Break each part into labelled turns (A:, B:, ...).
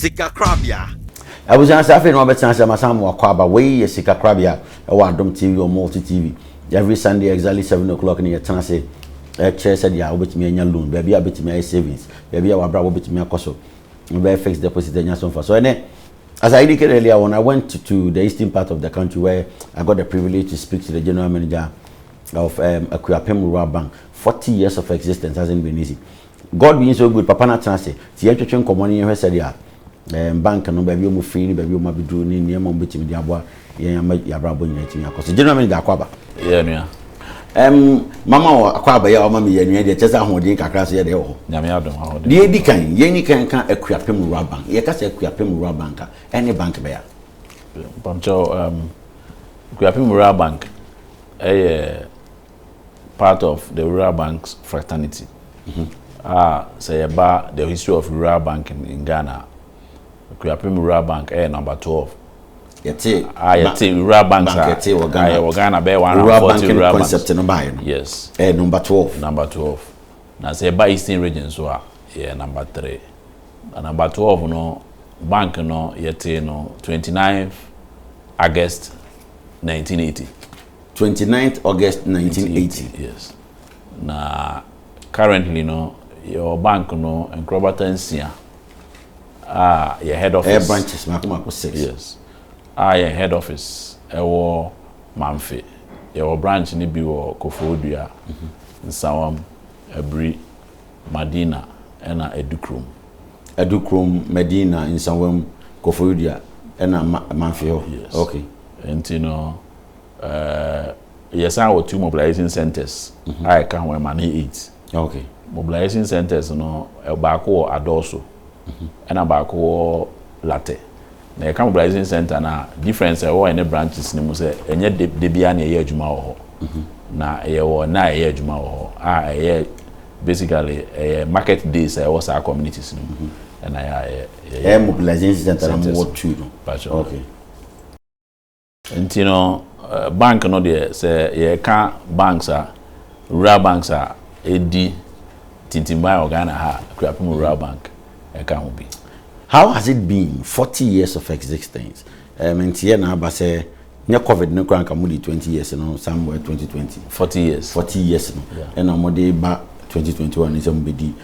A: Sikakorabea. Abusua sɛ
B: afei na wabɛtena ase amasan mo wakɔ aba wei yɛ sika korabea ɛwɔ adom tv wɔ multi tv every sunday exactly seven o'clock ne yɛtena ase ɛkyerɛ sɛ deɛ wobɛtumi anya loan baabi a wobɛtumi ayɛ savings baabi a wabra wobɛtumi akɔ so wobɛyɛ fixed deposit anya so mfa so ɛnɛ As I indicated earlier on, I went to, to, the eastern part of the country where I got the privilege to speak to the general manager of um, Akuapem Rural Bank. 40 years of existence hasn't been easy. God being so good, papa no atena ase nti yɛntwetwe nkɔmmɔ na yɛnhwɛ sɛdeɛ um, bank no baabi a wɔfiri ne baabi a wɔabɛduru ne nneɛma a wɔbɛtumi de aboa yɛn ama yɛn abrabɔ nyinaa tumi akɔ so gyina me de akɔ aba yɛ nua
C: um,
B: mama wɔ akɔ aba yɛ a ɔma me yɛ nua deɛ kyɛ sɛ ahoɔden kakra so yɛ deɛ wɔ hɔ nyame adom ahoɔden deɛ
C: ɛdi kan yɛni
B: kan ka akuapem rural bank yɛka sɛ akuapem rural bank a ɛne bank bɛyɛ a mpamkyɛw
C: um, akuapem rural bank ɛyɛ part of the rural banks fraternity a sɛ yɛba the history of rural banking in Ghana a Akuapem rural bank ɛyɛ number twelve yɛte a yɛte rural banks a yɛte wɔ Ghana wɔ Ghana bɛyɛ one rural banking rural banks concept no baayɛ no yes ɛyɛ
B: number
C: twelve number
B: twelve
C: na sɛ yɛba eastern region so a yɛ number three na number twelve no bank no yɛte no twenty nine August nineteen eighty. Twenty
B: ninth August nineteen eighty. Yes.
C: Na currently no yɛwɔ bank no nkorabata nsia a yɛ head office. Ɛyɛ branches mako mako six.
B: Yes. A
C: yɛ head office ɛwɔ Mamfe. Yɛwɔ branch no bi wɔ Koforidua, mhm. Nsawam, Abiri, Madina ɛna Adukrom. Adukrom,
B: Madina, Nsawam, Koforidua ɛna Mamfe hɔ. Yes. Okay.
C: Nti
B: no.
C: Eh, yɛsan wɔ two mobilization centers mhm. a ɛka ho ɛma ne eight okay. mobilization
B: centers
C: no baako wɔ adɔɔso mhm. ɛna baako wɔ latɛ na yɛka mobilization center no a difference ɛwɔ ɛne branches no mu sɛ ɛnyɛ de biara na ɛyɛ adwuma wɔ hɔ mhm. na ɛyɛ wɔ na ɛyɛ adwuma wɔ hɔ a ɛyɛ basically ɛyɛ market days a ɛwɔ saa communities no mu ɛna yɛ ɛyɛ mobilization center
B: no mu wɔ two no okay.
C: Nti no, bank no deɛ, sɛ yɛreka banks a, rural banks a ɛdi tintimban wɔ Ghana ha a, Akuapem Rural Bank ka ho bi.
B: How has it been, forty years of existence? Ɛɛ, menteɛ na aba sɛ, nyɛ Covid no koraa anka mode twenty years no somewhere twenty twenty. Forty years. Forty
C: years no,
B: ɛna wɔde
C: ba
B: twenty twenty one no sɛ mobɛdi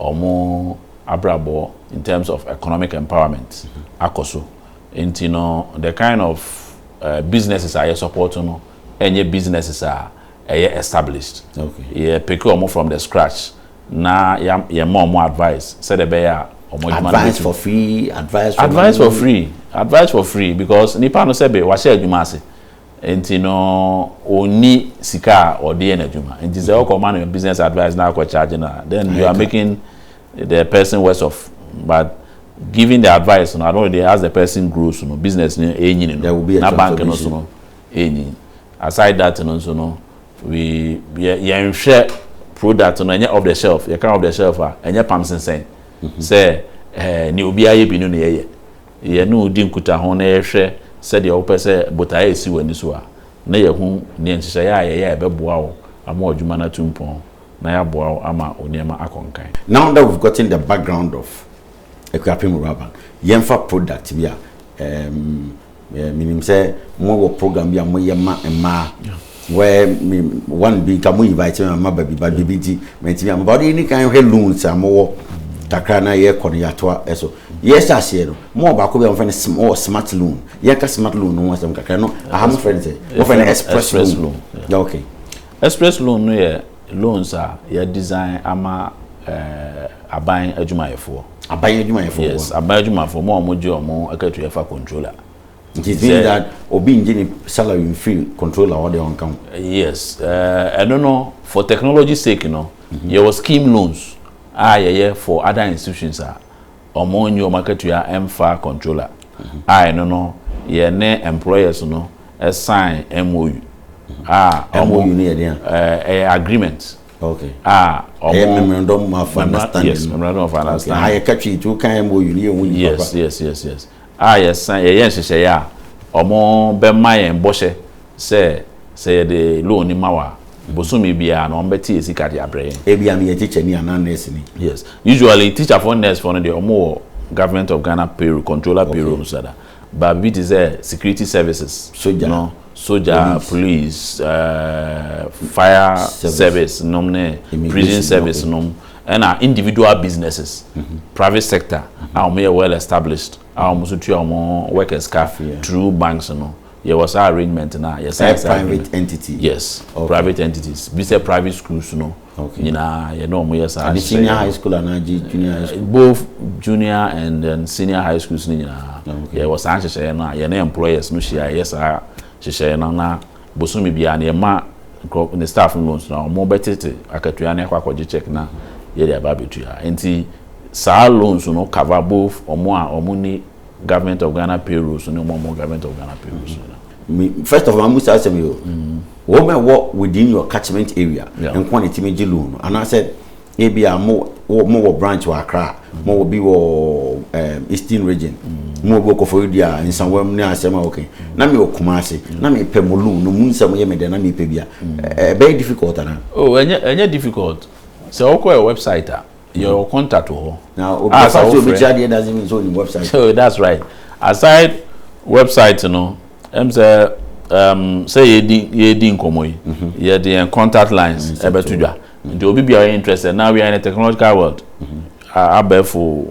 C: wɔn abrabɔ in terms of economic empowerment akɔ so. Nti no the kind of businesses a yɛ support no ɛnyɛ businesses a ɛyɛ established. Yɛ pick wɔn from the scratch na yɛ ma wɔn advice sɛdeɛ ɛbɛyɛ a wɔn adwuma no bɛtumi. Advice for
B: free, advice for free. Advice for free, advice for free because nipa no sɛbe wahyɛ adwuma ase. Nti no ɔnni sika a ɔde yɛ n'adwuma. Nti sɛ ɔkɔ ma no business advice na akɔ charge no a, then you are making the person worse off. But giving the advice no, I don't know, as the person grows no, business no ɛrenyini no, na bank no nso no ɛrenyin. Aside that no nso no, we, yɛ, yɛnhwɛ product no, ɛnyɛ off the shelf. Yɛka off the shelf a, ɛnyɛ pam sensɛn sɛ ɛɛ, nea obiara yɛ bi no na yɛyɛ. yɛne wo di nkutaho na yɛhwɛ sɛdeɛ wopɛ sɛ botaeɛ a ɛsi w'ani so a, na yɛahu deɛ nhyehyɛeɛ a yɛyɛ a ɛbɛboa wo ama w'adwuma no atu mpɔn na yɛaboa wo ama wo nneɛma akɔ nkan. Now that we've gotten the background of Akuapem Rural Bank, yɛmfa product bi a, um, menim sɛ mowɔ program bi a moyɛ ma mmaa. Where me one bi nka mo invite me ma ba bi ba bi nti mɛntumi ama ba ɔde ni kan hwɛ loans a mowɔ kakra na yɛkɔ no yɛatoa ɛso yɛhyɛ aseɛ no mo wɔ baako bi a mofɛ no sm wɔ smart loan yɛnka smart loan no ho asɛm kakra no aha mofɛ no sɛ mofɛ no express loan yeah, okay express loan
C: no yɛ loans a yɛ design ama eh, aban adwumayɛfoɔ aban adwumayɛfoɔ yes aban adwumayɛfoɔ mo a wɔgye wɔn akatua fa controller Nti zin
B: that obi ngye ne salary nfiri controller hɔ deɛ ɔnka ho? Yes, eh,
C: ɛno no for technology sake no, mhm. yɛwɔ scheme loans a yɛyɛ for other institutions a ɔmo nye ɔmo akatua ɛmfa controller mhm. a ɛno no yɛne employers no sign MOU
B: mhm. a MOU no yɛ deɛ ɛyɛ agreement
C: okay
B: ah ɛyɛ memorandum
C: of understanding
B: yes memorandum of understanding
C: ayɛ katwi tu kan
B: MOU no yɛ hu ni papa yes yes yes yes
C: a yɛsan yɛyɛ nhyehyɛeɛ a wɔbɛma yɛn bɔhyɛ sɛ sɛ yɛde loan no ma wɔn a, bosome biara no wɔbɛte yɛn sika de abrɛ yɛn. Ebia meyɛ tikyani
B: anaa nɛɛseni. Yes. Usually
C: tikyafoɔ ne nɛɛsefoɔ no deɛ wɔwɔ Government of Ghana payroll, controller payroll mu sada. But biribi te sɛ security services no,
B: sogya,
C: police, fire service nom ne prison service nom, Ɛna individual businesses, private sector a wɔn yɛ well established a wɔn nso tua wɔn workers ka through banks no, yɛ wɔ saa arrangement no a yɛ sign saa agreement. Private entity.
B: Yes, okay. private
C: entities. Bi sɛ private schools no okay. nyinaa yɛ
B: ne wɔn
C: yɛ saa. Adi senior high school
B: anaa gye junior high school. Both junior
C: and then senior high schools no nyinaa yɛ wɔ saa nhyehyɛeɛ no a yɛ ne employers no hyia yɛ saa nhyehyɛeɛ no na. Bosome biara no, yɛma nkurɔfo, ne staff no loans no a, wɔbɛtete akatua no akɔ akɔgye cheque na yɛde aba abɛtua. Enti saa loans no cover both wɔn a wɔnni Government of Ghana payroll so ne wɔn a wɔwɔ Government of Ghana payroll so nyinaa. Me, first of all,
B: mabusa asɛm yi o. Wɔn a ɛwɔ within your catchment area Yeah. nko na ɛtumi gye loan no anaasɛ ebi a mo mo wɔ branch wɔ Accra mo wɔ bi wɔ um, Eastern region mo wɔ bi wɔ Kofori dua nsawam ne asɛm a okay na me wɔ Kumasi na me pɛ mo lu no mu nsɛm yɛ me dɛ na me pɛ bia ɛbɛyɛ difficult ana. oh ɛnyɛ ɛnyɛ
C: difficult sɛ ɔkɔ yɛ website a yɛ wɔ contact wɔ hɔ. na obi ah, afa so obi
B: kyerɛ adeɛ doesn't mean so onim website. so that's right
C: aside website no ɛm sɛ um, sɛ yɛ di yɛ di nkɔmɔ yi mhm. yɛ de yɛn contact lines ɛbɛto dwa. Nti obi biara ɔyɛ interested now we are in a technological world abɛɛfo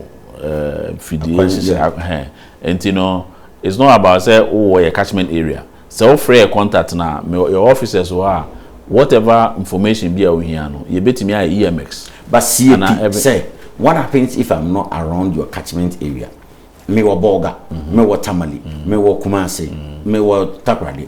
C: mfidie yɛ nti no it's not about sɛ wowɔ yɛ catchment area sɛ wofrɛ yɛ contact no a yɛ officers wɔ hɔ a whatever information bi a wohia no yɛbɛtumi ayɛ EMX but sie
B: pi sɛ what happens if I'm not around your catchment area mewɔ Bolga mewɔ Tamale mewɔ Kumase mewɔ Takoradi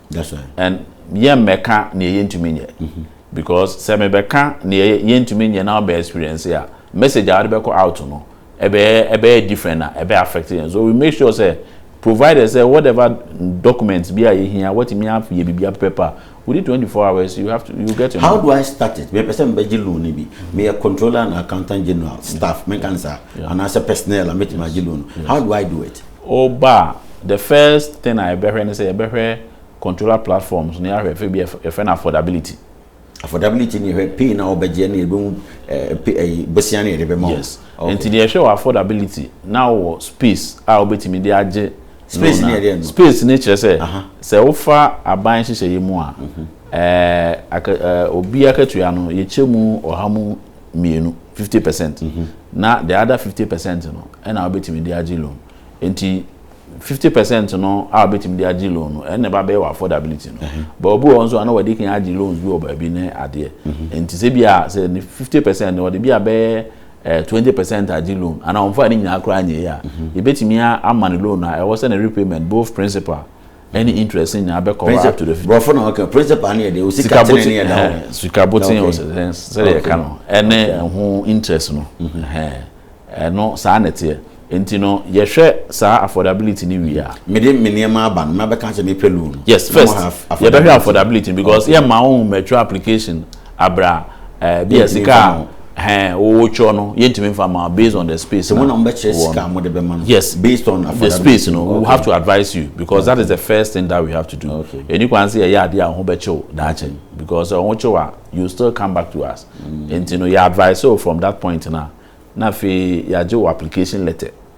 C: That's right. And
B: yɛn mmɛka
C: nea yɛntumi nyɛ. Mm-hmm. Because sɛ mebɛka nea yɛntumi nyɛ na ɔbɛ experience a message a wɔde bɛkɔ out no ɛbɛyɛ ɛbɛyɛ different na ɛbɛ affect yɛn. So we make sure sɛ provided sɛ whatever documents bi a yɛhia wɔtumi ayɛ biribi apɛpɛ pa within 24 hours you have to you get your. How do I start it?
B: Mepɛ sɛ mebɛgye loan bi. Meyɛ controller and accountant general staff menka ne saa anaasɛ personnel a metumi agye loan. How do I do it? Woba a, the
C: first thing a yɛbɛhwɛ ne sɛ yɛbɛhwɛ controller platforms no, yɛahwɛ afei bi a yɛfrɛ no affordability. Affordability
B: no yɛhwɛ pay no a wɔbɛgye ne yɛbɛhu eh, eh, bosea no yɛde bɛma wo. Yes. Okay. Nti deɛ yɛhwɛ
C: wɔ affordability na wɔ space a wobɛtumi de agye Space loan no a. yɛ deɛ
B: no. Space no kyerɛ sɛ Aha.
C: sɛ wofa aban nhyehyɛeɛ mu a, eh, aka, eh, obi akatua no yɛkyɛ mu ɔha mu mmienu fifty percent mhm. na the other fifty percent no ɛna wobɛtumi de agye loan nti fifty percent no a wobɛtumi de agye loan no ɛna ɛba bɛyɛ wɔ affordability no mhm. but obi wɔ nso ana wɔde kan agye loans bi wɔ baabi ne adeɛ mhm. nti sɛ bi a sɛ ne fifty percent no wɔde bi a bɛyɛ eh, twenty percent agye loan ana wɔn fa ne nyinaa koraa nyɛ yɛ a yɛbɛtumi ama ne loan a ɛwɔ sɛ ne repayment both principal Any interest ne nyinaa bɛkɔ hɔ up to the fifty. Brɔfo na ɔka principal
B: ne yɛ deɛ osika tene ne yɛ da hɔ. Sika boten wɔ sɛdeɛ
C: yɛka no ɛne ɛho interest no ɛno saa na ɛteɛ nti no yɛhwɛ saa affordability ne wie a. Mede me nneɛma aba no
B: mabɛka sɛ mepɛ loan. Yes first
C: yɛbɛhwɛ affordability because yɛma wɔn mature application. Abira ɛɛ bi a sika a ɛhɛn wɔtwerɛ no yɛntumi nfa ma based on the space na
B: wɔn yes based on the
C: space
B: no we
C: have to advise you because that is the first thing that we have to do ɛni kwan sɛ yɛyɛ
B: adeɛ a
C: wɔn bɛ kyew daakye because wɔn kyew a you still come back to us nti no yɛ advise you from that point na na afei yɛagye wɔ application letter.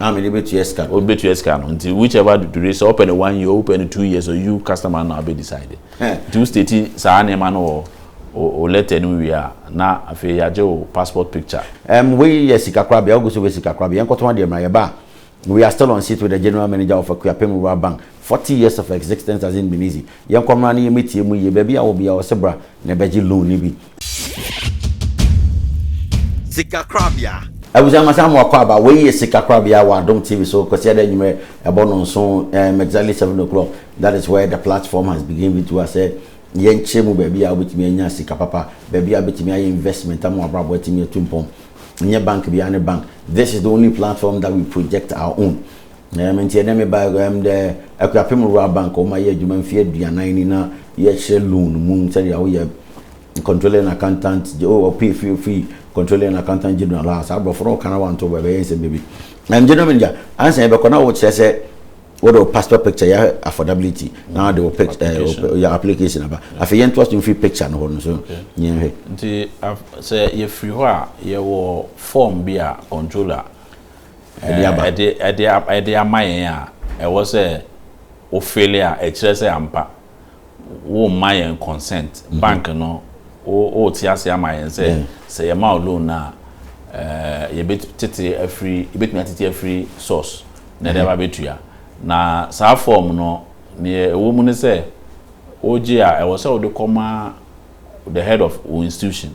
C: a mede bɛtua
B: sika no. Wobɛtua sika no nti
C: whichever duration sɛ wopɛ no one year wopɛ no two years you customer no na wobɛ decide nti wo state saa nneɛma no wɔ o letter no wie a na afei yɛagye wo passport picture. Um, wei yɛ sika
B: kora bea wogu so wei sika kora bea yɛnkɔtɔn adeɛ mmra yɛba a we are still on seat with the general manager of Akuapem Rural Bank Forty years of existence as in Binizi, yɛnkɔ mmra na yɛmmɛtie mu yie, baabi a wɔ biara ɔse bra na ɛbɛgye loan no bi.
A: Sika korabea. Abusua ma saa moakɔ
B: aba wei yɛ sika korabea wɔ adom TV so kwasiada anwummerɛ ɛbɔ nnɔnson ɛɛm exactly seven o'clock that is where the platform has been given to us sɛ yɛnkyerɛ mu baabi a wobɛtumi anya sika papa baabi a wobɛtumi ayɛ investment ama wabrabɔ atumi atu mpɔn nyɛ bank biara ne bank this is the only platform that we project our own Na ɛno nti ɛnnɛ meba ha, ndɛ Akuapem Rural Bank wɔn ayɛ adwuma mfe aduanan ni na yɛhyɛ loan mu sɛdeɛ woyɛ Controlling Accountant, oh, ɔpay fi fi Controlling Accountant General a saa aborɔfo no ɔka na wanto bɛ bɛyɛ nsɛm bɛbi. Ɛn General Manager, ansa yɛbɛkɔ na wokyerɛ sɛ wode wo passport picture yɛ affordability na wode wo pic, eh, wo, Application. yɛ application aba. Afei yɛntoa so mfiri picture no hɔ no so yɛnhwɛ. Nti af,
C: sɛ yɛfiri hɔ a, yɛwɔ form bi a Controller. ɛde aba. Ɛɛ, ɛde, ɛde, ɛde ama yɛn a, ɛwɔ sɛ wo fili a, ɛkyerɛ sɛ ampa woremma yɛn consent. Bank no, wo, worete aseɛ ama yɛn sɛ, sɛ yɛma wo loan no a, ɛɛ, yɛbɛtete afiri, yɛbɛtumi atete afiri source na yɛde aba abɛtua. Na saa form no, deɛ ɛwɔ mu ne sɛ, wogye a, ɛwɔ sɛ wode kɔma the head of wo institution.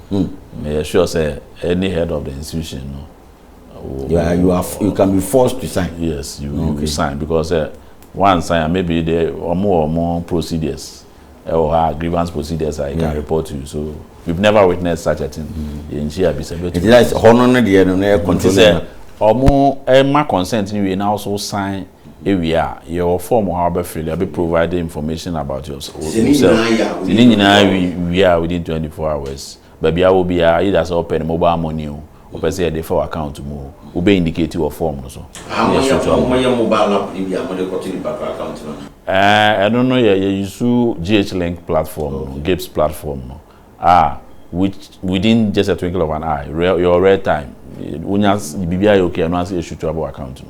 C: Hmm. Meyɛ sure sɛ any head of the institution no. You
B: are you are you can be forced to sign. Yes, you okay. you
C: sign because uh, one sign maybe they ọmọ ọmọ procedures ɛwɔ eh, ha grievance procedures I can report to you so we've never witnessed such a thing. Hmm. Yɛn nhyia bisa bɛ tu. Nti sɛ hɔ no ne
B: deɛ no na yɛ control. Nti sɛ ɔmo
C: ɛma consent ni wie na ɔso sign. ewie a yɛ wɔ form hɔ a wobɛ fill yɛbɛ provide information about your self sɛ ne nyinaa yɛ a within twenty four hours wie a within twenty four hours baabi a wɔ biara either sɛ wopɛ no mobile money o wopɛ sɛ yɛde fa w'account mu o wobɛ indicate wɔ form no so na yɛ so to
B: ama wo. Ɛɛ ɛno no
C: yɛ yɛ use GHlink platform no GIPS platform no a which within just a twinkle of an eye yɛ wɔ real time wonya biribiara yɛ okay a ɛno ara nso yɛ shoot to aba w'account mu.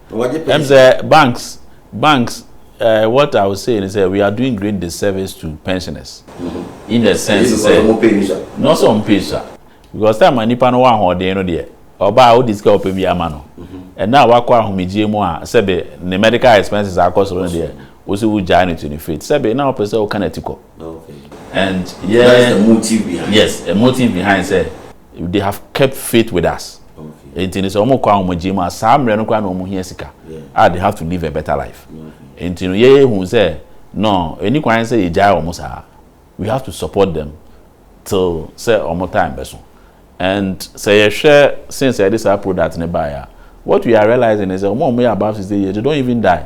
C: Ɛm sɛ banks banks uh, what I would say is that we are doing great disservice to pensioners. Mm-hmm. In the sense sɛ no sɛ ɔmo pay sa because time a nipa no wɔ ahoɔden no deɛ ɔbaa ɔdi sika ɔpɛ bi ama no ɛna mm-hmm. wakɔ ahomegye mu a sɛbi ne medical expenses akɔ soro no deɛ wosi wo gyaa ne to ne faith sɛbi na ɔpɛ sɛ ɔka n'ati kɔ. and yeah, that's the motive behind.
B: yes a motive behind
C: sɛ. They have kept faith with us. Nti no sɛ wɔn kɔ ahomegye mu a saa mmerɛ no koraa na wɔn hia sika a they have to live a better life. Nti no yɛyɛ hu sɛ no ɛni kwan sɛ yɛgyae wɔn saa. We have to support them till sɛ wɔn time bɛso. And sɛ yɛhwɛ since yɛde saa product no baeɛ a what we are realizing is sɛ wɔn a wɔyɛ above sixty years they don't even die.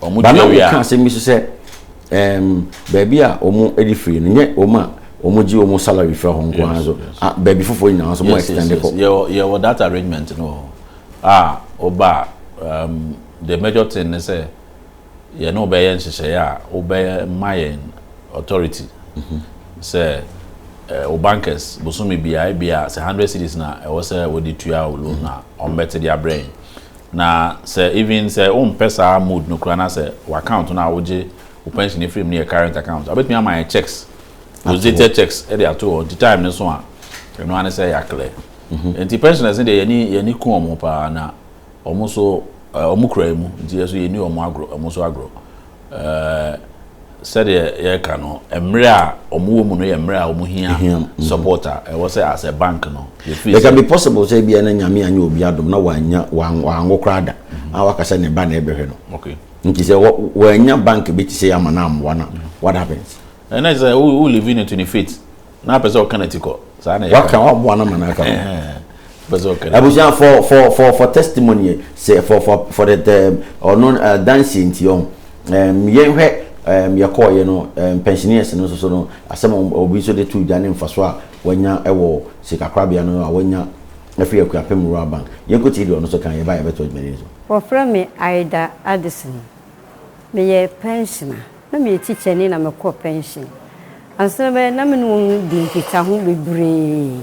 C: Barnabo
B: ka asɛm bi nso sɛ, um, baabi a wɔde firi no, nyɛ wɔn a wɔgye wɔn salary fira hɔ nko ara nso, baabi foforɔ nyinaa nso wɔn extend kɔ. Yɛwɔ that
C: arrangement no a ɔba um, the major thing ne sɛ yɛne wobɛyɛ nhyehyɛeɛ a wobɛyɛ ma yɛn authority mhm. sɛ eh, wo bankers bosome biara bia sɛ 100 cities na ɛwɔ sɛ wɔde tua wo loan a ɔmbɛte de abrɛ yɛn Na sɛ even sɛ wompɛ saa mode no koraa na sɛ wo account no a wogye wo pension no firi mu no yɛ current account a, wobɛtumi ama yɛn checks, rosiated checks de ato hɔ nti time no so a, ɛno ara ne sɛ yɛaclear. Mhm. Nti pensioners no deɛ yɛni yɛni ku wɔn paa na wɔn nso eh, wɔn kura mu nti yɛn nso yɛni wɔn agorɔ, wɔn nso agorɔ. Sɛdeɛ yɛreka no, mmerɛ a wɔn wɔ mu no yɛ mmerɛ a wɔn hia mm-hmm. support a ɛwɔ sɛ as a bank no. It can be possible
D: sɛ ebi ɛna nyame anya obi adom na wanya wanwo koraa da mm-hmm. a waka sɛ ne ba na ɛbɛhwɛ no. Okay. Nti sɛ wanya bank bi te sɛ ama na amoa na what happens? Ɛnna sɛ wo
C: live in it in faith. na apɛ sɛ ɔka n'ati kɔ saa na waka waboa no ma no aka abusua for for for
D: for testimony sɛ for for for the term ɔno dansie nti ɔho yɛnhwɛ yɛkɔɔyɛ no pensioners no nso so no asɛm obi nso de to dwa ne mfaso a wanya wɔ sikakorabea no a wanya afiri akuapem rural bank yɛnkɔtie deɛ ɔno nso kan yɛba yɛbɛto adwumani no so wɔfrɛ me
E: Aida Addison meyɛ pensioner Na meyɛ tikyani na mekɔɔ pɛnhyen. Ansa na mɛyɛ na me ne wɔn di nkitaho bebree.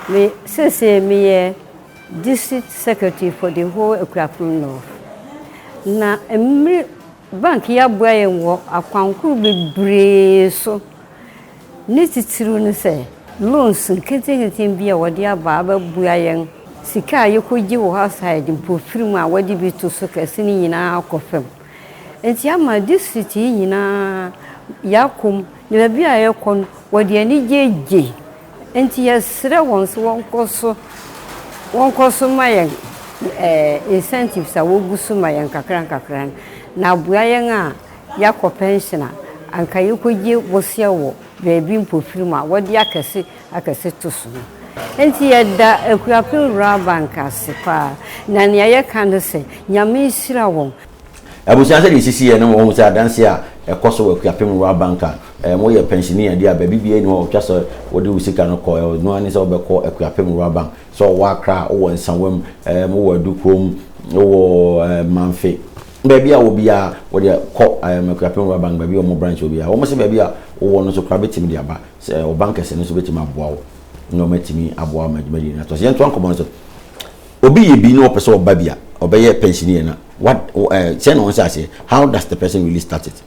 E: Me, seesei meyɛ District Secretary for the whole Akuapem North. Na mmere Bank yi aboa yɛn wɔ akwan horow bebree so. Ne titiriw ne sɛ loans nketenkete bi a wɔde aba abɛboa yɛn. Sika a yɛkɔgye wɔ outside, mpofirim a wɔde bi to so kɛse no nyinaa kɔ fam. Enti ama district yi nyinaa yɛakɔ mu na baabi a yɛkɔ no wɔde anigye gye. Enti yɛsrɛ wɔn sɛ wɔnkɔ so wɔnkɔ so ma yɛn incentives a wogu so ma yɛn nkakra nkakra no na aboa yɛn a yɛakɔ pension a anka yɛkɔgye bosea wɔ baabi mpofirim a wɔde akɛse akɛse to so no. Enti yɛda Akuapem Rural Bank ase paa, na nea yɛka ne sɛ, Nyame nhyira wɔn. Abusua, sɛdeɛ
D: ɛsisiiɛ no, wɔhu sɛ adanseɛ a ɛkɔ so wɔ Akuapem Rural Bank a moyɛ pɛnsini a ɛde a baabi biara nni hɔ a wɔtwa sɛ wode wo sika no kɔ, ɛno ara ne sɛ wobɛkɔ Akuapem Rural Bank. Sɛ ɔwɔ Accra, wowɔ Nsawam, wowɔ Adu kurom, wowɔ Mamfe, baabi a wɔ biara wodeɛ kɔ Akuapem Rural Bank baabi a wɔn branch wɔ biara. Wɔn se baabi a wowɔ no nso koraa bɛtumi de aba. Sɛ ɔban kɛse no nso bɛtumi aboa wo na ɔmatumi aboa wo ma dwumadie no atoa so. Yɛntoa nkɔmmɔ no so. Obi yɛ bi na ɔpɛ sɛ ɔba bi a, ɔbɛyɛ pɛnsinie no a, what, eh, sɛ na ɔnhyɛ aseɛ, how does the person really start it?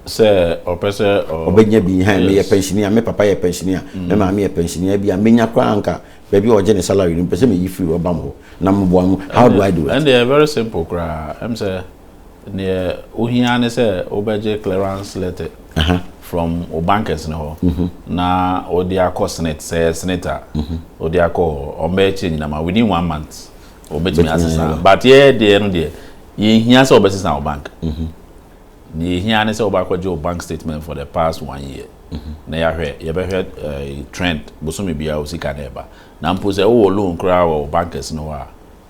D: Sɛ ɔpɛ
C: sɛ ɔ, ɔbɛnya bi, ha, meyɛ
D: yes. pɛnsinie a, me papa yɛ pɛnsinie a, me mm. maame yɛ pɛnsinie a, bi a menya koraa anka baabi a ɔgye ne salary no, mpɛ sɛ meyi firi ɔbam hɔ na meboa no, how do I do it? Ɛndeɛ, very simple
C: koraa, ɛm sɛ Deɛ ohia ara ne sɛ wobɛgye clearance letter from wo bankers no hɔ mhm. na wode akɔ senate sɛ ɛyɛ senate a mhm. wode akɔ hɔ ɔmbɛyɛ kyɛ nyina ma within one month wɔbɛtumi asesa but yɛyɛ deɛ no deɛ yɛhia sɛ wɔbɛsesa wo bank mhm. deɛ yɛhia ne sɛ wobɛakɔgye wo bank statement for the past one year na yɛahwɛ yɛbɛhwɛ eh, trend bosome biara wo sika no ɛba na mpo sɛ wowɔ loan koraa wɔ wo bankers no hɔ a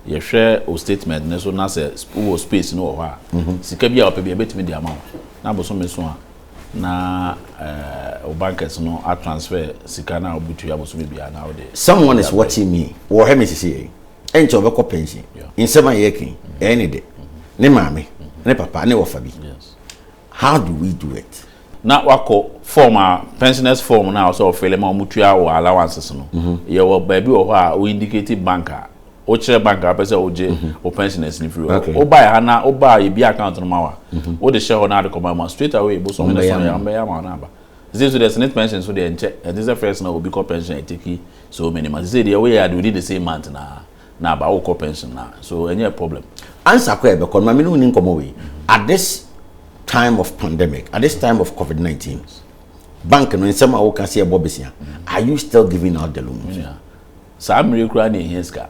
C: Yɛhwɛ wo statement no so na sɛ wowɔ space no wɔ hɔ a, sika bi a wɔpɛ bi yɛbɛtumi de ama wo. Na bosome so a, na eh, wo bankers no a transfer sika no a wobɛtua bosome biara na wode. Someone is watching me.
D: Wɔhwɛ me sisi yɛ. Ɛnkyɛ wɔbɛkɔ pension. Yeah. Nsɛm a yɛka yi, ɛyɛ ne de. Ne maame, ne papa, ne wɔfa bi. Yes. How
C: do we
D: do it? Na wakɔ
C: form a pensioners form na ɔsɛ ɔfele ma wɔn tua wɔ allowances no. Yɛ wɔ baabi wɔ hɔ a o indicate bank a o kyerɛ bank a wopɛ sɛ ogye o pensioners no firi hɔ. O ba yɛ ha na o ba yɛ bia account no ma wa. O de hyɛ hɔ na ade kɔ ma ma straight away bosom ne sɔn yɛ wɔn bɛyɛ ama wɔn na aba. Sisi nso deɛ senate pension so deɛ nkyɛ ɛnte sɛ first na obi kɔ pension a eteki so many months sisi deɛ woyɛ ade within the same month na na aba wokɔ pension na so ɛnyɛ problem answer kɔ ɛbɛkɔ
D: no ma me ne woni nkɔmmɔ wei at this time of pandemic at this time of covid-19 bank no nsɛm a woka sɛ ɛbɔ besia are you still giving out the loans saa
C: mmere koraa na ɛhia sika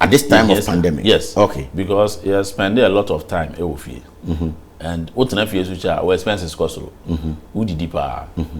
D: at this time of pandemic yes okay because
C: you
D: spend
C: a lot of time ɛwɔ fie mm-hmm. and wotena fie so kyɛ a wo expenses kɔ soro mm-hmm. wodidi paa mm-hmm.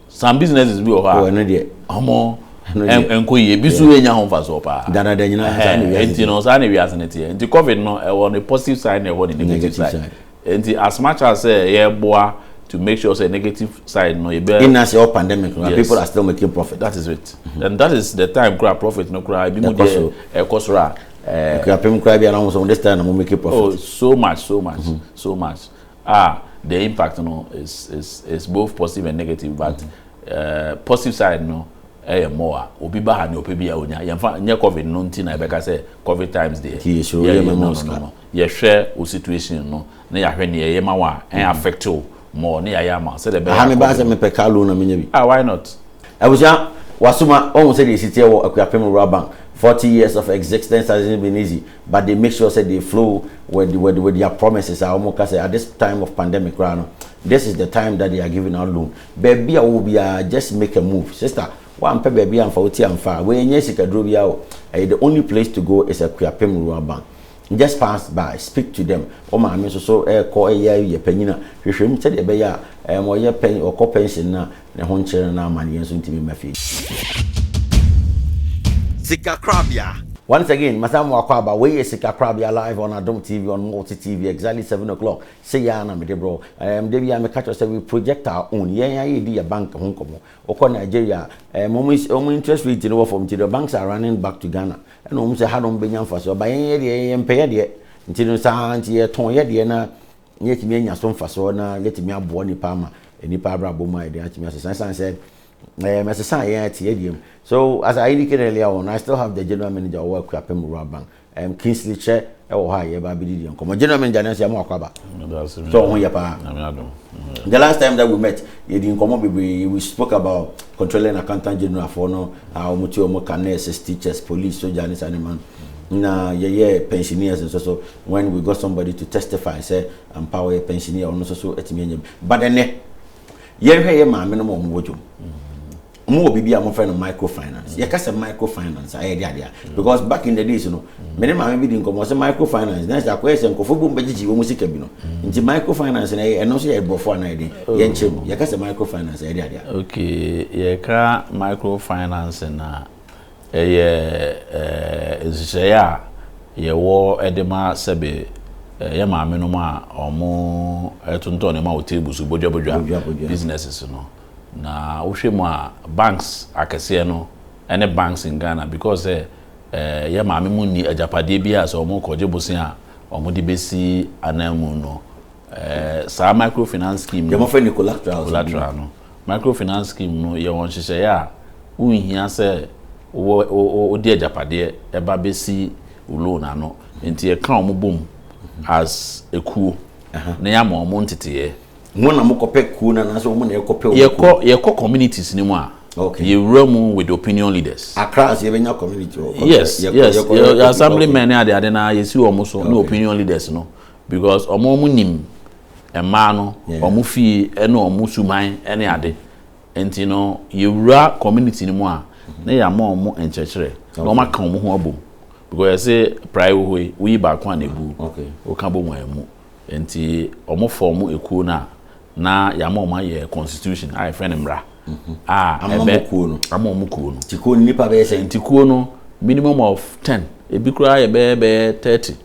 C: Some businesses bi wɔ hɔ a. Oh, ɛno deɛ. Ɔmo
B: ɛnkɔ yie, ebi so yɛ nya ho nfasoɔ paa. Danada nyinaa saa na
D: wiase. Nti no saa na wiase
B: no teɛ. Nti COVID no ɛwɔ ne positive side na ɛwɔ ne negative side. Nti as much as sɛ eh, yɛboa to make sure sɛ negative side no yɛ bɛ. In as yɛ wɔ pandemic
D: no, people are still making profit. That is it. Mm-hmm. And
B: that is the time kura profit no kura ebi mu deɛ ɛkɔ soro a. Ɛkura pɛm
D: kura bi a na wɔn sɛ wɔn this time na wɔn making profit. Oh so much so
B: much mm-hmm. so much. Ah the impact no is is is both positive and negative but mm -hmm. uh, positive side no ɛyɛ eh, more a obi ba ha ne ɔpɛ bi a onya yɛmfa nyɛ covid no nti na ɛbɛka sɛ covid times deɛ yɛyɛ no no no yɛhwɛ o situation no na yɛahwɛ ne yɛyɛ ma wo a ɛn affect o more ne yɛayɛ ama sɛdeɛ ɛbɛyɛ aha mebaa sɛ mepɛ car loan
D: na menya bi ah why not
B: abusua
D: wasoma ɔhu sɛdeɛ ɛsi teɛ wɔ akuapem rural bank 40 years of existence has been easy but they make sure sɛ they flow with with with their promises a wɔn ka sɛ at this time of pandemic koraa no this is the time that they are giving out loan baabi a wɔwɔ biara just make a move sister wampɛ baabi anfa wo ti anfa a wɔnyɛ sikaduro biara o ɛyɛ the only place to go is Akuapem Rural Bank just pass by speak to them wɔn maame nso so ɛkɔ ɛyɛ yɛ panyin a hwehwɛ mu sɛdeɛ ɛbɛyɛ a ɛm ɔyɛ pɛn ɔkɔ pension na Ne ho nkyere no na amanneɛ nso ntumi mma fie. Sikakorabea.
A: Once again, masan
D: mo akɔ aba, wei yɛ Sikakorabea live on Adom TV on Multi TV, exactly seven o'clock, sei ara na mede brɛ wo. Erm da biara meka kyerɛ wo sɛ we project our own, yɛn ara yɛdi yɛ bank ho nkɔmmɔ. Wokɔ Nigeria a, erm wɔn is wɔn interest rate no wɔ fam nti the banks are running back to Ghana, ɛna wɔn sɛ ha na wɔbɛnya mfasoɔ, but yɛn yɛdeɛ yɛmpɛ yɛdeɛ, nti no saa ara nti yɛtɔn yɛdeɛ na na yɛatumi anya so mfasoɔ na yɛatumi aboa nnipa ama nnipa abrabɔ mu ayɛ den atumi asesa ɛsiane sɛ ɛɛ mɛsesa yɛn ɛte yɛ deɛ mu so as I indicated earlier on I still have the general manager ɔwɔ Akuapem Rural Bank um, Kingsley Kyɛ ɛwɔ hɔ a yɛba abɛdi deɛ nkɔmɔ general manager nanso yɛn mu akɔ aba so ɔho yɛ paa the last time that we met yɛdi nkɔmɔ bebree we spoke about controlling accountant general foɔ no a wɔn ti wɔn ka nurses teachers police soldier ne saa ne ma no na yɛyɛ pensioners nso so when we got somebody to testify sɛ ampa ɔyɛ pensionee a ɔno nso so atumi anya bi but ɛnɛ yɛnhwɛ yɛ maame no ma ɔmo wɔ dwom ɔmo wɔ biribi a wɔfrɛ no microfinance yɛka sɛ microfinance a ɛyɛ de adeɛ because back in the days no mene maame bi di nkɔmmɔ sɛ microfinance na sɛ akɔyɛ sɛ nkɔfoɔ bom bɛgyegye wɔn sika bi no nti microfinance na ɛyɛ ɛno nso yɛ ɛbɔfoɔ anaa ɛden oh. yɛnkyerɛ mu yɛka sɛ microfinance ɛyɛ de adeɛ okay yɛka
B: microfinance na Ɛyɛ nhyehyɛeɛ a yɛwɔ de ma sɛbe yɛn maame nom a wɔn tontɔn nneɛma wɔ table so bodwa bodwa businesses no na wohwɛ mu a banks akɛseɛ no ɛne banks in Ghana because sɛ eh, yɛn maame mu ni agyapadeɛ bi a sɛ wɔn kɔgye bosen a wɔn de besi anan mu no eh, saa microfinance scheme no
D: collateral no
B: Microfinance Scheme no yɛ wɔn nhyehyɛeɛ a wonhia sɛ wo wo wode agyapadeɛ ba bɛsi wo loan ano nti yɛka wɔn bom as ekuo na yɛama wɔn nteteeɛ. Mo na mokɔpɛ
D: kuo no anaasɛ wɔn na ɛkɔpɛ wɔn kuo? Yɛkɔ yɛkɔ communities
B: no mu a okay. yɛwura mu with opinion leaders. Accra ase yɛbɛnya
D: community hɔ. Yes
B: yes yɛ assemblymen ne adeade no a yɛsi wɔn so ne opinion leaders no. Because ɔmo ɔmo nim mmaa no, ɔmo fie ɛne ɔmo suman ɛne ade. Nti no yɛwura community no mu a na yɛama ɔmo nkyerɛkyerɛ na ɔmo aka ɔmo ho abom. Because yɛse prae wɔ hɔ yi woyi baako a na egu woka bom a ɛmu. Nti ɔmo form ekuo no a na yɛama ɔmo ayɛ constitution a yɛfrɛ no mmara a ɛbɛ ama ɔmo kuo no. Nti kuo no nnipa bɛyɛ sɛ?
D: Nti kuo no
B: minimum of ten ebi koraa yɛ bɛyɛ bɛyɛ thirty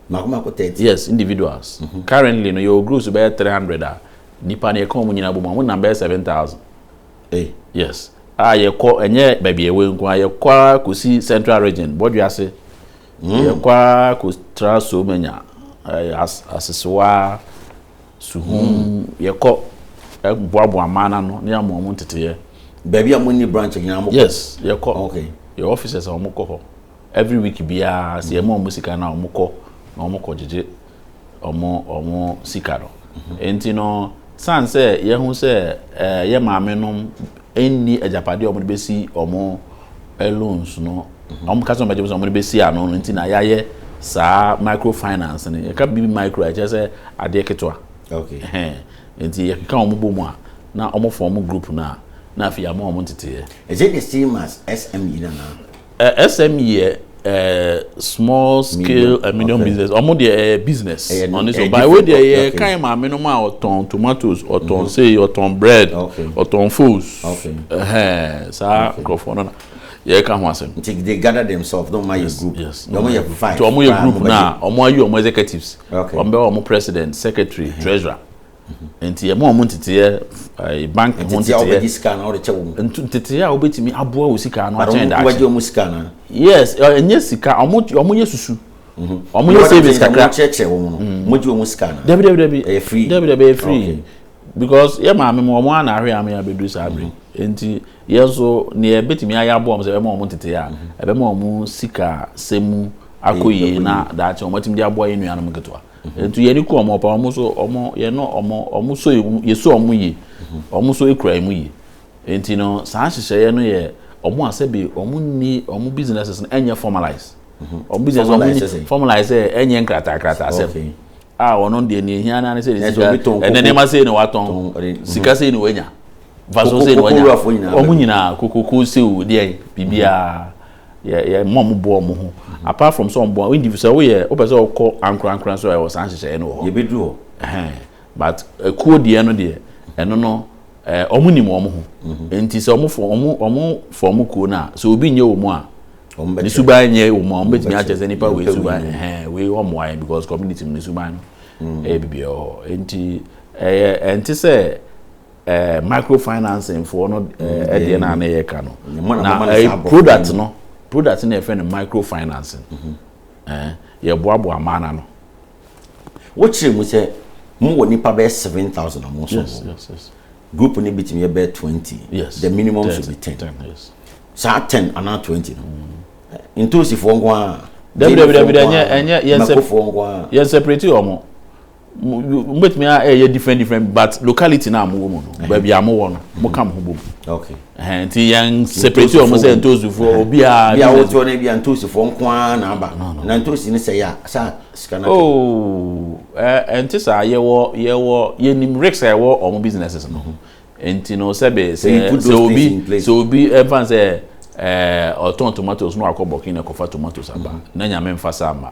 B: Mako mako
D: thirty. Yes individuals
B: currently no yɛwɔ groups bɛyɛ three hundred a nipa no yɛka wɔn nyinaa bɔ mu a wɔn nam bɛyɛ seven thousand. Ei. Yes a yɛkɔ ɛnyɛ baabi a ɛwɔ nko a yɛkɔ ara kɔsi central region bɔdwease mm. yɛkɔ ara kɔtra somanya as asesewa suhum mm. yɛkɔ boaboa mmaa no ano ne ama wɔn nteteyɛ. baabi a mo ni
D: branch nyinaa mo kɔ. yes yɛkɔ okay.
B: yɛ offices
D: a wɔn
B: kɔ hɔ. Every week biara sɛ yɛma wɔn sika no a wɔkɔ na wɔkɔgyegye wɔn wɔn sika no. Enti no san sɛ yɛhu sɛ ɛɛ yɛ maame no nni agyapadeɛ a wɔde bɛsi wɔn loans no wɔn kasa wɔn bɛgye sɛ wɔde bɛsi ano no nti na yɛayɛ saa microfinance no yɛka bibi micro a ɛkyerɛ sɛ adeɛ ketewa. Okay.
D: Nti
B: yɛkeka wɔn bɔ mu a na wɔn fɔm group no a na afei yɛama wɔn nteteeɛ. Is it the same as
D: SME no anaa? SME
B: yɛ small scale and medium business. Ɔmo deɛ ɛyɛ eh, business ɔno eh, so by wei deɛ yɛ kan maame no mu a ɔtɔn tomatoes ɔtɔn mm-hmm. sei ɔtɔn bread ɔtɔn foos ɛhɛn saa nkorɔfoɔ no na yɛ
C: ka ho asɛm. nti they gather themselves na
D: ɔmo ayɛ group na ɔmo yɛ five nti
C: ɔmo yɛ
D: group na
C: ɔmo ayi ɔmo executives ɔmo bɛ ɔmo
D: president
C: secretary mm-hmm. treasurer. Nti yɛma wɔn nteteɛ, eh, bank ho nteteɛ. a wɔbɛgye sika anaa wɔde kyɛ wɔn.
D: Ntu nteteɛ a wɔbɛtumi
C: aboa wɔ sika ano akyɛn daakye. Wɔbɛgye wɔn sika anaa.
D: Yes, eh, ɛnyɛ
C: sika, wɔn wɔn yɛ susu. Mhm. Wɔn yɛ savings kakra. Wɔn kyerɛkyerɛ wɔn no. Mhm.
D: Wɔn gye wɔn sika anaa. Dabi dabi dabi. Ɛyɛ free. Dabi
C: dabi ɛyɛ
D: free.
C: Because yɛ maame mu wɔn ana ahwɛ ame abedu saa bere. Mhm. Nti yɛn nso nea ɛbɛtumi ayɛ aboa wɔn sɛ ɛbɛma wɔn nteteɛ a ɛbɛma wɔn sika sɛ mu akɔ yie na daakye wɔn atumi de aboa yɛn nuanom nketewa. Nti yɛde ku wɔn ɔpa wɔn nso wɔn yɛne wɔn wɔn nso yɛsu wɔn yie wɔn nso kura yɛn mu yie nti no saa nhyehyɛeɛ no yɛ wɔn a sɛbi wɔn ni wɔn businesses no ɛnyɛ formalize wɔn business wɔn ni formalize sɛ ɛnyɛ nkrataa krataa sɛ fɛn a wɔn deɛ nea ehia naa ne sɛ sika ɛnɛ nneɛma sɛ na watɔn sika sɛ na wanya vaso sɛ na wanya wɔn nyinaa kokoko sew deɛ biribiara. yɛ yɛ mma wɔn boa wɔn ho apart from sɛ wɔn boa wɔn di sɛ woyɛ wopɛ sɛ wɔkɔ ankorankora nso a ɛwɔ saa nhyehyɛeɛ no wɔ hɔ yɛbɛdu hɔ ɛhɛn
D: but
C: ekuo deɛ no deɛ ɛno no ɛɛ wɔn nim wɔn ho mhm. nti sɛ wɔn fɔ wɔn wɔn fɔ wɔn kuo no a sɛ obi nyɛ wɔn a ne suban nyɛ wɔn a wɔn bɛtumi akyɛ sɛ nipa wei suban ɛhɛn wei wɔn mmoa yɛn because community mu ne suban no mm. ɛyɛ bibi wɔ hɔ nti ɛyɛ ɛnti sɛ. eh, microfinancing foɔ no eh, deɛ no a na yɛka no na eh, product no product no yɛfrɛ no microfinancing mhm. eh, yɛboaboa maa na no
D: wokyerɛ mu sɛ mowɔ nipa bɛyɛ 7000 a mo so yes, yes, yes.
C: group no bitumi
D: yɛ bɛyɛ 20 yes, the minimum 10, should
C: be 10, 10
D: yes. saa 10
C: anaa
D: 20 no mm. ntosifoɔ nko a dabidabidabi ɛnyɛ ɛnyɛ yɛn sɛ
C: yɛn separate wɔn mo bɛtumi ɛyɛ different different but locality no a mowɔ mu no baabi a mowɔ no mo ka mo ho bɔ mu nti
D: yɛn
C: separate wɔn sɛ ntoosufoɔ obiara bi a wotoɔ no bi a
D: ntoosufoɔ nko ara na aba na ntoosi no sɛ yɛ a saa sika no oh
C: ɛnte saa yɛwɔ yɛwɔ yɛnim risk a ɛwɔ wɔn businesses no ho nti no sɛ bɛ sɛ sɛ obi sɛ obi ɛnfa sɛ ɛɛ ɔtɔn tomatoes no akɔ bɔkin na ɛkɔfa tomatoes aba na nyame nfa saa ma.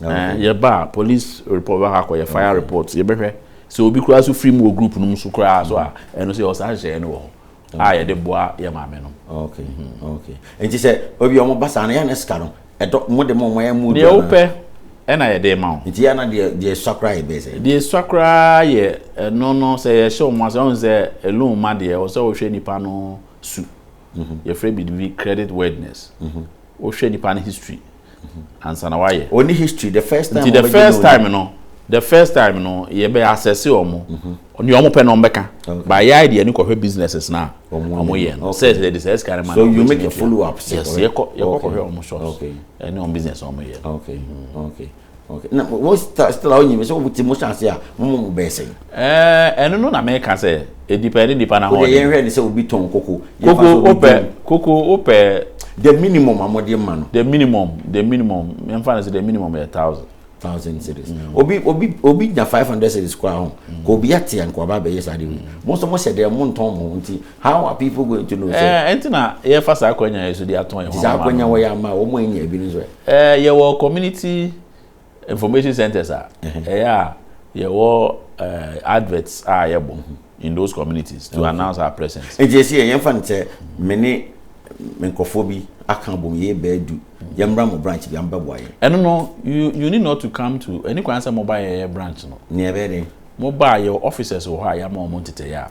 C: yɛ ba a police report bɛ akɔ yɛ fire report yɛ bɛ hwɛ sɛ obi koraa so firi mu wɔ group no mu so koraa so a mm. ɛno sɛ yɛ ɔsan hyɛ ɛno wɔ hɔ mm. a yɛde boa yɛ maame no. ok mm-hmm. ok
D: nti sɛ obi ɔmo ba saa no yɛn na sika no ɛdɔ mo de mo ɔmo yɛ mo dua na. deɛ wopɛ
C: ɛna yɛ de ma o. nti yɛn na deɛ deɛ sua
D: koraa yɛ bɛyɛ sɛ. deɛ sua koraa yɛ
C: ɛno no sɛ yɛhyɛ ɔmo ase ɔmo sɛ ɛlum ma deɛ ɔsɛ ɔhwɛ nipa no su mm-hmm. yɛfrɛ bi bi credit worthiness mm-hmm. wohwɛ nipa no history. Mm -hmm. ansa na wayɛ. Wɔn ni history the first time.
D: Nti the first time no the first
C: time no yɛ bɛ asɛse wɔn mo mhm. nea wɔn pɛ na wɔn bɛka ba yɛ ayɛ deɛ ne kɔhwɛ businesses na wɔn yɛ no sɛ ɛsɛ de sɛ ɛsika ne ma na wɔn bɛ ti yɛ
D: yes yɛ kɔ yɛ kɔ
C: kɔhwɛ wɔn shops ɛne wɔn business
D: wɔn
C: yɛ.
D: Okay. Na mo still a wonyi me sɛ wɔn ti mo hyɛ ase a mo mo mo bɛyɛ sɛn? Ɛɛ eh, ɛno no na
C: meka sɛ edipa ne nipa na ho. Wode yɛn hwɛ ne sɛ obi tɔn
D: koko. Koko wopɛ koko wopɛ.
C: The minimum a
D: mo de ma no. The minimum the
C: minimum mfa no sɛ the minimum yɛ thousand. thousand
D: series. Mm. Obi obi obi nya five hundred series kura ho. Mm. Ko obi ate anko aba bɛyɛ saa de bi. Mm. Mo nso mo hyɛ dɛ mo ntɔn mo nti how are people going to know? Ɛɛ eh, ɛnti na yɛfa saa
C: akwanya yɛ so de atɔn yɛn ho ama. Saa akwanya wɔ yɛ ama wɔn
D: anya ebi no so. Ɛɛ yɛwɔ community
C: information centres a ɛyɛ a yɛwɔ ɛɛ adverts a yɛbɔ ho in those communities to announce our presence. Nti yɛsi yɛ yɛnfa no sɛ
D: me ne me nkurɔfoɔ bi aka abom yɛyɛ baadu yɛmmra mo branch bi amobɛboa yɛn. Ɛno no
C: you you need not to come to ɛni kwan sɛ moba yɛyɛ branch no. Nea ɛbɛyɛ dɛn?
D: Moba a yɛwɔ
C: officers wɔ hɔ a yɛama wɔn ntetɛeɛ a.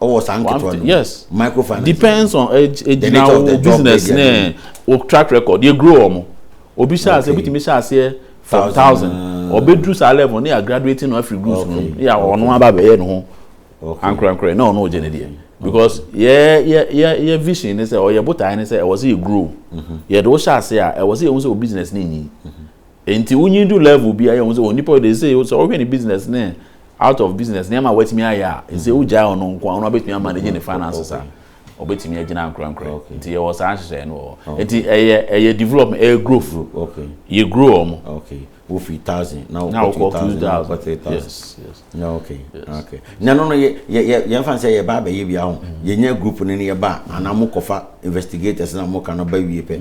C: ɔwɔ saa
D: nketewa no yes microfinance
C: depends
D: on
C: egyina eh, wo business ne wo track record yɛ grow wɔn obi hyɛ aseɛ obi tumi hyɛ aseɛ from
B: thousand ɔbɛduru saa level ne yɛ graduate no afiri groups no ne yɛ ɔno aba bɛyɛ ne ho ankorankorɛ na ɔno ɔgye ne deɛ because yɛ yɛ yɛ yɛ vision ne sɛ ɔyɛ botae ne sɛ ɛwɔ sɛ yɛ grow mm-hmm. yɛ de wo hyɛ aseɛ a ɛwɔ sɛ yɛ ho sɛ o business ne nyi. Mm-hmm. Enti wonyin du level bi a yɛ hu sɛ onipa ɔde sɛ sɛ ɔhwɛ ne business ne out of business nneɛma a watumi ayɛ a ɛsɛ wogyae ɔno nko a ɔno abɛtumi amanage ne finances a ɔbɛtumi agyina ankorankorɛ nti yɛwɔ saa nhyehyɛeɛ no wɔ hɔ nti ɛyɛ ɛyɛ development ɛyɛ growth yɛ grow
D: ɔmo.
B: Okay. Wofi
D: thousand na wokɔ two thousand na wokɔ three
B: thousand. Yes, yes. Yeah,
D: okay. Yes. Ah, okay. Na no no ye ye ye ye fan say ye ba ba ye bia ho. Mm. Ye nya group no ne ye ba mm. ana mo kofa investigators na mo ka no ba wie pe.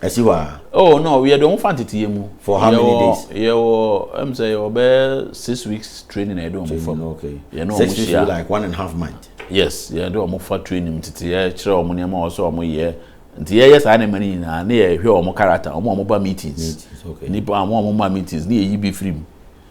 D: Asi mm. hɔ a. Oh no, we don't
B: fan tete ye mu. For how many days?
D: Ye wo em say
B: ye be 6 weeks training e do mo fa. Okay. Ye no mo share.
D: like
B: one and a half
D: month. Yes, ye do mo
B: fa training tete ye kire omo ne ma o so omo ye. Nti ye ye saa ne mani na na ye hwe omo character, omo omo ba meetings. Meetings, okay. Nipa omo
D: omo ma
B: meetings, na ye yi bi free mu.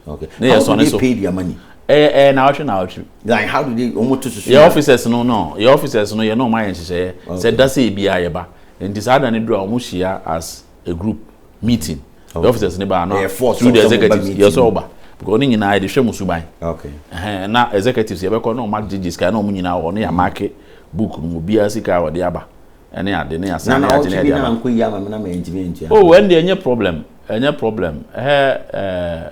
B: Okay. Ne yɛ
D: sɔne so. How do they
B: pay their money?
D: Ɛyɛ eh, ɛyɛ eh, naawɔtwe naawɔtwe.
B: Like how
D: do they wɔn to susu? Yɛ officers no no
B: yɛ officers no yɛ no wɔn ayɛ nhyehyɛeɛ sɛ dasa ebi a yɛ ba nti saa dan ne duro a wɔn hyia as a group meeting. Yɛ officers ne ba ano through the executives yɛ sɛ ɔba because ne nyinaa yɛ de hwɛ mu suban.
D: Na executives
B: yɛ bɛkɔ na wɔn agyegye sika na wɔn nyinaa wɔ no yɛ amaake book no mu biara sika a wɔde aba. ɛne ade ne asan ne agye ne ɛde ama. Nana yi ama me na mɛ ntumi ntua. Oh ɛn deɛ ɛnyɛ problem ɛnyɛ problem ɛhɛ ɛɛ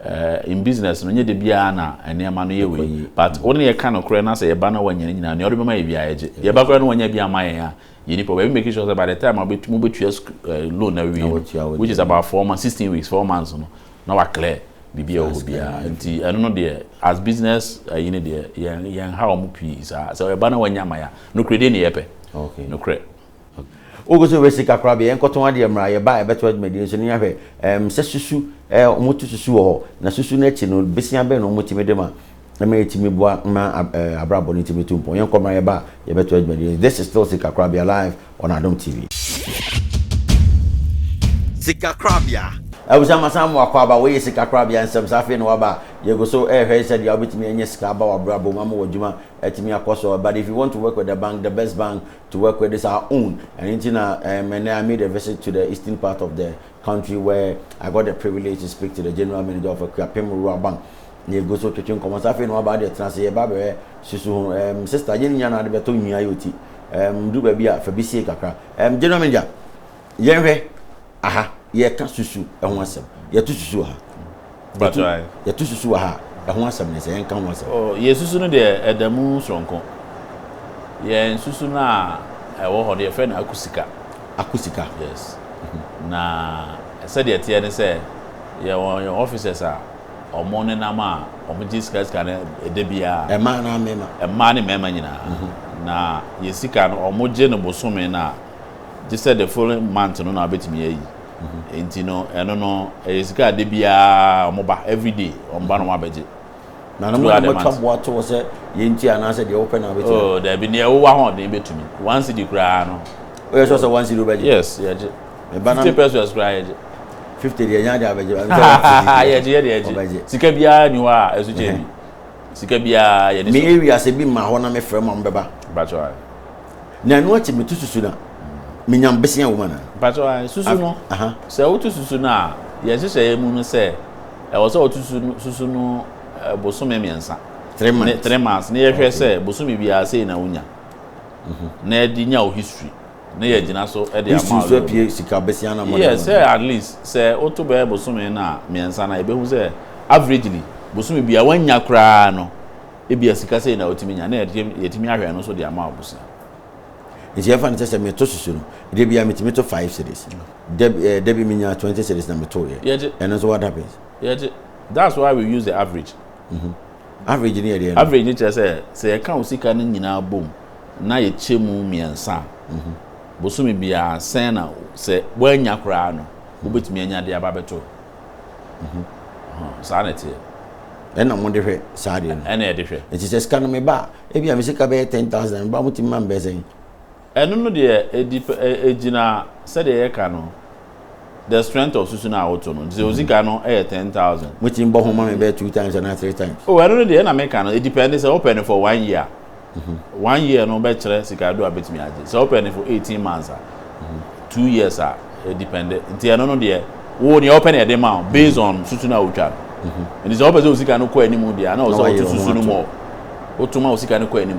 B: ɛɛ in business no nye de biara na nneɛma no yɛ wei but wɔn yɛ ka no korɛ na sɛ yɛ ba na wɔn nyɛ ne nyinaa nea ɔde bɛma yɛ biara yɛ gye yɛ ba korɛ na wɔn nyɛ bi ama yɛn a yɛ ni problem ebi make sure sɛ by the time a wɔbɛtu mo bɛtua loan na wie no which is about four months sixteen weeks four months no na wa clear biribi a ɛwɔ hɔ biara nti ɛno no deɛ as business ayi no deɛ yɛn yɛn ha wɔn pii saa sɛ ɛba na wɔnya ama ya nokorɛ deɛ ne yɛ pɛ nokorɛ. wogu so
D: resi kakra bi yɛnkɔtɔn adeɛ mmra yɛba ɛbɛto adwumadie nso ne ahwɛ um, sɛ susu eh, wɔto susu wɔ hɔ na susu no akyi no besia bɛn na wɔtumi de ma ɛma yɛtumi boa ma eh, abrabɔ no tumi tu mpɔn. Yɛnkɔ mmra yɛba a yɛbɛto adwumadie. This is still Sikakorabea live on Adom TV. Sikakorabea.
A: Abusua masan mo
D: akɔ aba wɔyɛ sika korabea nsɛm saa afei na waba a yɛgu so ɛrehwɛ eh, sɛdeɛ wobɛtumi anya sika aba w'abrabɔ mu ama w'adwuma atumi eh, akɔ so but if you want to work with the bank the best bank to work with is our own and nti na um, and I made a visit to the eastern part of the country where I got the privilege to speak to the general manager of Akuapem Rural Bank na yɛgu so twetwe nkɔmmɔ. Sɛ afei na waba deɛ, tena ase, yɛba abɛyɛ susu ho. Um, sister, yɛn nyinaa na ade bɛtɔ nwia yɛ oti. Um, duru baabi a, fa bi sie kakra. Um, general manager, yɛnhwɛ aha, yɛka susu ɛho asɛm. Yɛto susu wɔ ha.
B: Yɛto susu wɔ ha a,
D: ɛho asɛm ne sɛ yɛnka ho asɛm. Oh, yɛsusu no deɛ
B: ɛda mu soronko. Yɛn susu no a ɛwɔ hɔ no, yɛfrɛ no akusika. Akusika? Yes. Mhm. Na sɛdeɛ ɛteɛ ne sɛ, yɛwɔ yɛn officers a, Wɔn nenam a wɔgye sika sika no da biara. Mmaa anaa mmarima?
D: Mmaa ne mmarima nyinaa.
B: Na yɛn sika no, wɔgye no bosome no a, gye sɛ the following month no na wɔbɛtumi ayi. Enti no, ɛno no, ɛyɛ sika a da biara wɔba, every day wɔba na wɔabɛgye. Na no mo na
D: motwa boa to hɔ sɛ yei nti anaasɛ deɛ wopɛ na wobɛtumi ayɛ? Oh, dabi, deɛ wowɔ ahoɔden
B: bɛtumi. One cedi koraa no. Woyɛ sure sɛ one
D: cedi wobɛgye? Yes, yɛgye. me
B: ba na. fifty pesos koraa yɛ gye. fifty deɛ nya
D: deɛ abɛgye ba. yɛ gye yɛ
B: deɛ yɛ gye sika biara ni hɔ a ɛso kyɛ bi sika biara yɛ de so. mi ewi ase bi ma hɔ
D: na mi fɛ mu a mo bɛ ba. bàtɔ ayɛ.
B: na ɛnu
D: akyi mi tu susu na mi nya mbese awoma na. bàtɔ ayɛ susu no
B: sɛ wotu susu no a yɛn hyehyɛ yɛ mu no sɛ ɛwɔ sɛ ɔtu susu no bosome mmiɛnsa. three months ne three months ne yɛhwɛ sɛ bosome biara sɛ na wonya. Mhm. na ɛde nya o history. Ne yɛ gyina so de ama wo. History nso apue sika bɛsia
D: na mɔde ama. Yes, sɛ at least
B: sɛ woto bɛyɛ bosome na mmiɛnsa na yɛbɛhu sɛ averagely bosome bia wanya koraa no ebia sika sɛ na wotumi nya na yɛtumi ahwɛ ɛno nso de ama abusua. Nti
D: yɛfa no sɛ sɛ meto susu no de bia metumi to five series. Eh, da bi menya twenty series na meto yɛ. Ɛno nso what happens? Yɛgye. That's
B: why we use the average. Average
D: no yɛ deɛn? Average no kyerɛ sɛ, sɛ
B: yɛka wo sika no nyinaa bom na yɛkyɛ mu mmiɛnsa a, bosome biara sɛn na sɛ woannya koraa no, wobɛtumi anya de aba abɛto hɔ. Saa na ɛteɛ. Ɛna
D: mo de hwɛ saa deɛ no. Ɛna yɛde hwɛ. Nti sɛ sika
B: no meba a,
D: ebi a me sika bɛyɛ ten thousand a, meba a motumi ma me bɛyɛ sɛn? Ɛno no deɛ
B: ɛdi pɛ ɛ ɛgyina sɛdeɛ yɛka no the strength of susu no a woto no nti sɛ ɔdzi ka no yɛ ten thousand. Motumi bɔ ho ma me
D: bɛyɛ two times anaa three times. Oh ɛno no deɛ ɛna meka
B: no ɛdipɛnde sɛ wopɛ no for one year a one year no bɛkyerɛ sika do a bɛtumi agye sɛ wopɛ no for eighteen months a two years a ɛdipɛnde nti ɛno no deɛ wo
C: nea wopɛ na yɛde ma wo based on susu no a wotwa no nti sɛ wopɛ sɛ wo sika no kɔ anim deɛ a na ɔwɔ sɛ woto susu no more woto ma wo sika no kɔ anim.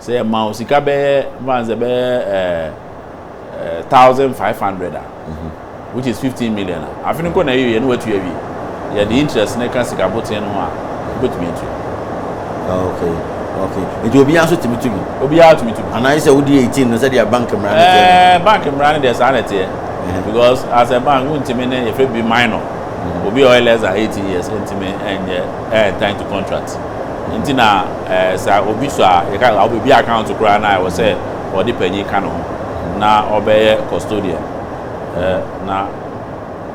C: Sɛ yɛma wo sika bɛyɛ mfa no sɛ bɛyɛ ɛɛ thousand five hundred a which is fifteen million a afe no nko na ɛyɛ yɛ na watua awie. Yɛde interest no ka sika botee no ho a wobɛtumi atua. Okay,
D: okay. Nti obiara nso tumi tu bi? Obiara tumi tu bi. Anaa gye
C: sɛ wodi eighteen
D: no sɛdeɛ bank mmara no teɛ no? Ɛɛ bank mmara no deɛ saa
C: na ɛteɛ because as a bank wontumi ne yɛfrɛ bi minor obi a ɔyɛ less than eighteen years ntumi nyɛ ɛɛ enter into contract. Nti na sɛ obi sɔ a yɛka sɛ wobɛbie account koraa no a ɛwɔ sɛ ɔde panyin ka ne ho na ɔbɛyɛ custodian na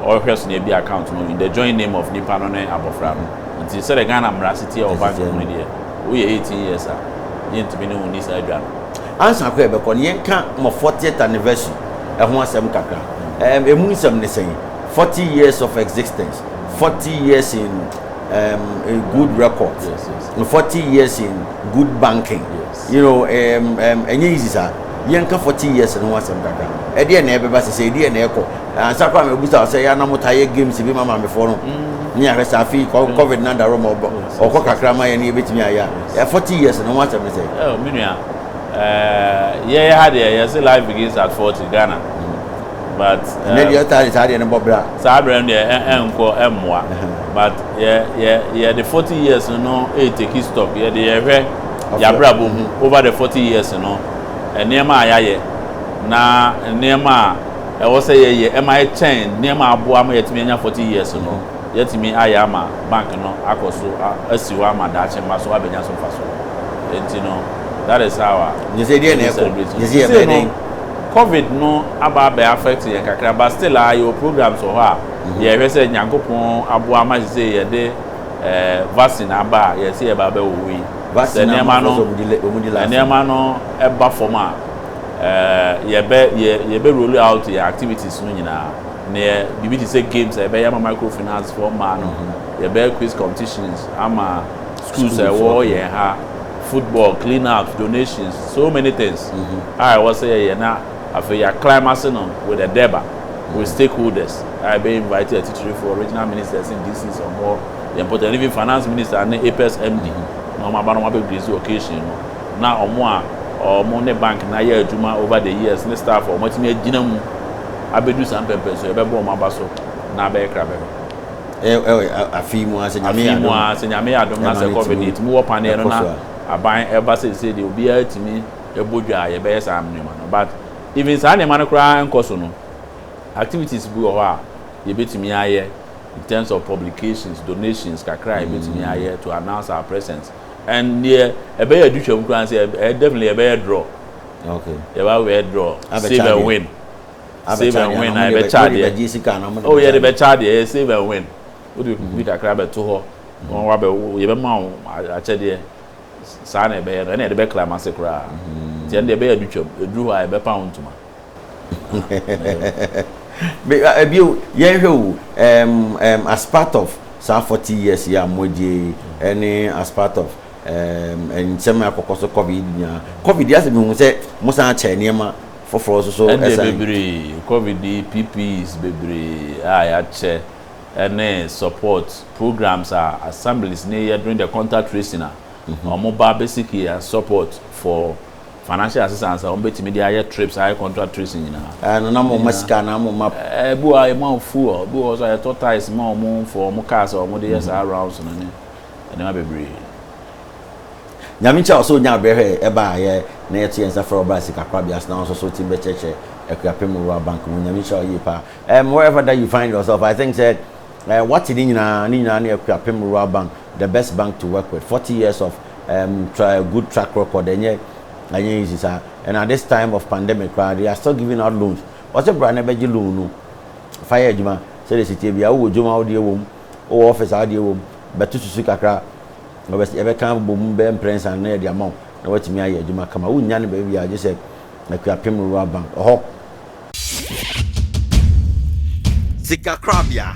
C: ɔhwɛ so na yɛbie account no in the joint name of nipa no ne abɔfra no. Nti sɛdeɛ Ghana mmara si teɛ wɔ bank mu no deɛ, woyɛ eighteen years a, yɛntumi ne wo nni saa dwa no. Ansa koraa yɛbɛkɔ
D: no, yɛnka mo fortieth anniversary ɛho asɛm kakra. Ɛmu nsɛm ne sɛn? Forty years of existence, forty years in. um, a good record yes, yes. no forty
C: years
D: in good banking yes. you know um, um, ɛnyɛ easy saa yɛnka forty years no ho asɛm dada ɛdeɛ na ɛbɛba sɛ sɛ ɛdeɛ na ɛkɔ ansa kora mɛbu sa sɛ yɛana mo taa yɛ games bi ma maamefoɔ no mm. ne ahwɛ sɛ afei mm. covid no adaro ma ɔkɔ kakra ma yɛ ne yɛbɛtumi ayɛ a forty years no ho asɛm no sɛ oh, menua
C: eh, yɛyɛ ha deɛ yɛse life begins at forty ghana but ɛm. Ɛnɛ deɛ ɔtaa
D: de saa adeɛ no bɔ bra. Saa berɛ no deɛ ɛ
C: ɛnkɔ ɛmmoa but yɛ yɛ yɛde forty years no reteki stock yɛde yɛhwɛ yɛabrabɔ mu over the forty years no nneɛma a yɛayɛ na nneɛma a ɛwɔ sɛ yɛyɛ ɛma ɛkyɛn nneɛma a aboa ma yɛatumi anya forty years no yɛatumi ayɛ ama bank no akɔ so a asi hɔ ama daakye mma so abɛnya so mfasoɔ ɛnti no that is how a. Gyesɛ deɛ na ɛkɔ
D: gyesɛ yɛbɛyɛ dɛn. Covid
C: no aba abɛ affect yɛn kakra but still aa yɛwɔ programs wɔ hɔ a yɛhwɛ sɛ Nyankopɔn aboa ama sesei yɛde eh, vaccine aba a yɛse yɛba abɛwowo yi. Sɛ nneɛma no, nneɛma no ba fam a eh, yɛbɛ, yɛ, yɛbɛ roll out yɛn activities no nyinaa. Neɛ biribi te sɛ games a yɛbɛyɛ ama microfinance foɔ mmaa no, yɛbɛyɛ quiz competitions ama Schools a ɛwɔ yɛn ha, football, clean ups, donations, so many things a ɛwɔ sɛ yɛyɛ na afei yɛ climb ase no with a deba, with stakeholders a yɛbɛ invite atitirifoɔ, regional ministers ne DCs a wɔwɔ yɛn mpɔtam and even finance minister ne Apex MD na wɔn aba na wɔn abɛ grace occasion no na wɔn a wɔn ne bank no ayɛ adwuma over the years ne staff a wɔatumi agyina mu abɛdu saa mpɛmpɛnsoɔ yɛbɛbɔ wɔn aba so na abɛyɛ kra bɛba.
D: afe yi mu ara sɛ nyame yɛ adom a sɛ
C: nyame yɛ adom na sɛ covid yɛtumi wɔ paneɛ no na aban ɛba seesei deɛ obiara tumi ɛbɔ dwa a yɛbɛyɛ saa nneɛma no but even saa nneɛma no koraa nkɔ so no activities bi wɔ hɔ a yɛbɛtumi ayɛ in terms of publications donations kakra a yɛbɛtumi mm. ayɛ to announce our presence and deɛ ɛbɛyɛ adutwam koraa sɛ definitely yɛbɛyɛ draw okay.
D: yɛbɛyɛ draw
C: save and win save and win na yɛbɛkyɛ adeɛ o yɛde bɛkyɛ adeɛ yɛ save and win wode bi kakra bɛto hɔ wɔn wabɛ yɛbɛma wo akyɛdeɛ saa na ɛbɛyɛ no ɛna yɛde bɛkla ma se koraa nti ɛno deɛ ɛbɛyɛ de twam ɛduru hɔ a yɛbɛpa wo ntoma
D: ebio yɛnhwɛ o um, um, as part of saa forty years yɛ a mo agye ɛne as part of um, nsɛm akɔkɔ so covid nyinaa covid yɛ asɛ mehu sɛ mo san akyɛ nneɛma foforɔ nso so ɛsan. Ɛdeɛ bebree,
C: covid yi PPEs bebree a yɛakyɛ ɛne support programs a assemblies no yɛ during the contact tracing a wɔn ba basic yɛ support for financial assistance a wɔn bɛtumi de ayɛ trips ayɛ contact tracing nyinaa. Ɛɛ no na mo ma
D: sika na mo ma. Ɛɛ bi wɔ a yɛ ma wɔn
C: fuel, bi wɔ so a yɛtɔ tyres ma wɔn for wɔn cars a wɔn de yɛ saa rounds no ne nneɛma bebree. Nyame nkyira
D: wo sɛ wonyaa berɛ hwɛɛ yɛ baeɛ na yɛto yɛn nsa frɛ wo bra sika korabea ase na wo nso so wotumi bɛkyerɛkyerɛ Akuapem Rural Bank mu. Nyame nhyira wo yie paa. Ɛm wherever that you find yourself I think sɛ ɛɛ wate ne nyinaa, ne nyinaa ne Akuapem Rural Bank the best bank to work with, forty years of ɛm tra good track record ɛnyɛ ɛnyɛ easy saa and at this time of pandemic koraa they are still giving out loans. Wɔse bra na bɛgye loan no fa yɛ adwuma sɛdeɛ ɛsiteɛ biara, wowɔ dwom a wode ɛwɔ mu, wowɔ office a wode ɛwɔ mu, bɛto susu kakra. Yɛbɛka abobɔ mu bɛyɛ mprɛnsa anan de ama wo na woatumi ayɛ adwuma kama. Wonnya no baabiara gye sɛ Akuapem Rural Bank, hɔ.
A: Sikakorabea.